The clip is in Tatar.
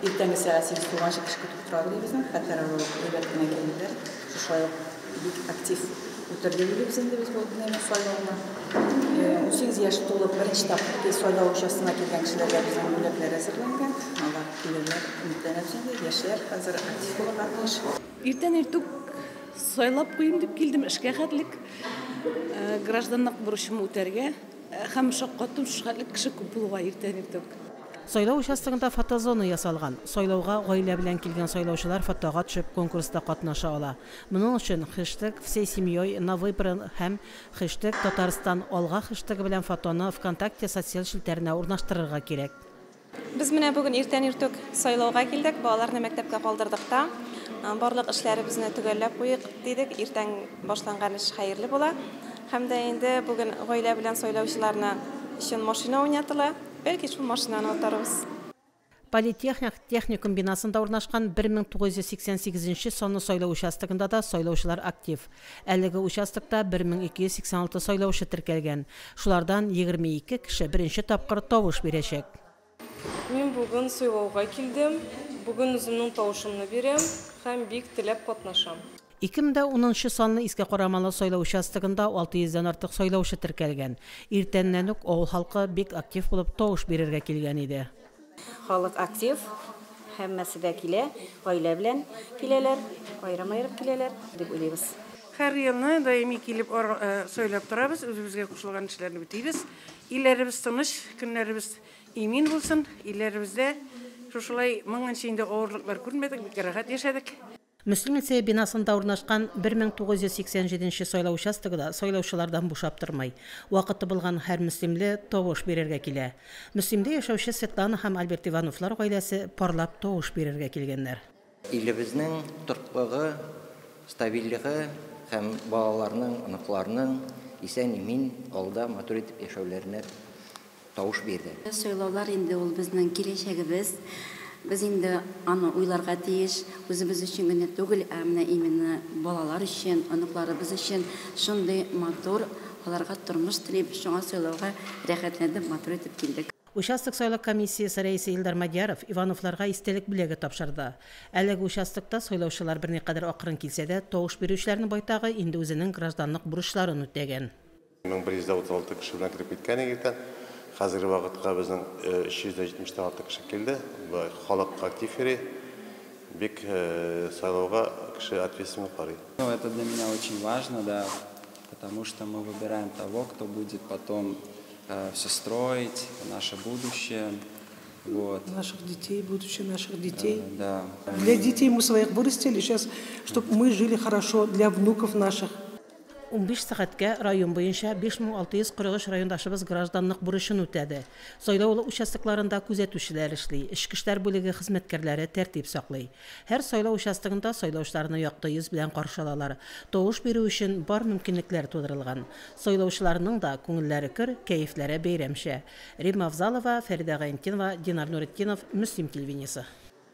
Иртәнге сәгать сигез тулганчы кеше көтеп тора дибезме, хәтәр авыл әйбәт кенә килделәр. Шушай ук бик актив үтерде дибез инде без бу дневник сайлауны. Унсигез яшь тулып, беренче тапкыр без сайлау участогына килгән кешеләргә безнең бүләкләр әзерләнгән. Алар килерләр, өметләнәбез инде. Яшьләр хәзер актив булырга тиеш. Иртән иртүк сайлап куйыйм дип килдем, эшкә хәтлек гражданлык бурычымны үтәргә һәм шаккаттым, шушы хәтлек кеше күп булуга иртән иртүк. Сайлау участогында фотозона ясалган. Сайлауга гаилә белән килгән сайлаучылар фотога төшеп конкурста катнаша ала. Моның өчен хэштег Всей семьей на выборы һәм хэштег Татарстан алга хэштегы белән фотоны ВКонтакте социаль челтәренә урнаштырырга кирәк. Без менә бүген иртән иртүк сайлауга килдек, балаларны мәктәпкә калдырдык та, барлык эшләребезне төгәлләп куйыйк дидек. Иртән башланган эш хәерле була. Һәм дә инде бүген гаилә белән сайлаучыларны өчен машина уйнатыла. Бәлки шул машинаны атарбыз. Политехник техникум бинасында урнашкан 1988 нче санлы сайлау участогында да сайлаучылар актив. Әлеге участокта 1286 сайлаучы теркәлгән. Шулардан 22 кеше беренче тапкыр тавыш бирәчәк. Мин бүген сайлауга килдем. Бүген үземнең тавышымны бирәм һәм бик теләп катнашам. Ике мең дә унынчы санлы Иске Карамалы сайлау участогында 600 дән артык сайлаучы теркәлгән. Иртәннән үк авыл халкы бик актив булып тавыш бирергә килгән иде. Халык актив, һәммәсе дә килә, гаилә белән киләләр, аерым-аерым киләләр дип уйлыйбыз. Һәр елны даими килеп сайлап торабыз, үзебезгә кушылган эшләрне бетибез. Илләребез тыныч, көннәребез имин булсын, илләребездә шушылай моңынча инде авырлыклар күрмәдек, бик рәхәт яшәдек. Мөслим лицее бинасында урнашкан 1987 нче сайлау участогы да сайлаучылардан бушап тормый. Вакыты булган һәр мөслимле тавыш бирергә килә. Мөслимдә яшәүче Светлана һәм Альберт Ивановлар гаиләсе парлап тавыш бирергә килгәннәр. Илебезнең торклыгы, стабильлеге һәм балаларның, оныкларның исән-имин, авылда матур итеп яшәүләренә тавыш бирде. Сайлаулар инде ул безнең киләчәгебез. Без инде аны уйларга тиеш. Үзебез өчен генә түгел, ә менә именно балалар өчен, оныкларыбыз өчен шундый матур аларга тормыш телим. Шуңа сайлауга рәхәтләнеп, матур итеп килдек. Участок сайлау комиссиясе рәисе Илдар Мадьяров Ивановларга истәлек бүләге тапшырды. Әлеге участокта сайлаучылар берникадәр акрын килсә дә, тавыш бирүчеләрнең байтагы инде үзенең гражданлык бурычларын үтәгән. 1136 кеше белән кереп киткән идек тә. Хәзерге вакытка безнең 370 тан артык кеше килде. Бу халык актив йөри. Бик сайлауга кеше ответственно карый. Ну, это для меня очень важно, да, потому что мы выбираем того, кто будет потом э, все строить, наше будущее. Вот. Наших детей, будущее наших детей. Э, да. Для детей мы своих вырастили, сейчас, чтобы мы жили хорошо, для внуков наших. Унбиш сәгатькә район буенча 5643 райондашыбыз гражданлык бурычын үтәде. Сайлау участокларында күзәтүчеләр эшли, эчке эшләр бүлеге хезмәткәрләре тәртип саклый. Һәр сайлау участогында сайлаучыларны якты йөз белән каршы алалар, тавыш бирү өчен бар мөмкинлекләр тудырылган. Сайлаучыларның да күңелләре көр, кәефләре бәйрәмчә. Римма Авзалова, Фәридә Гайнтдинова, Динар Нуретдинов, Мөслим телевидениесе.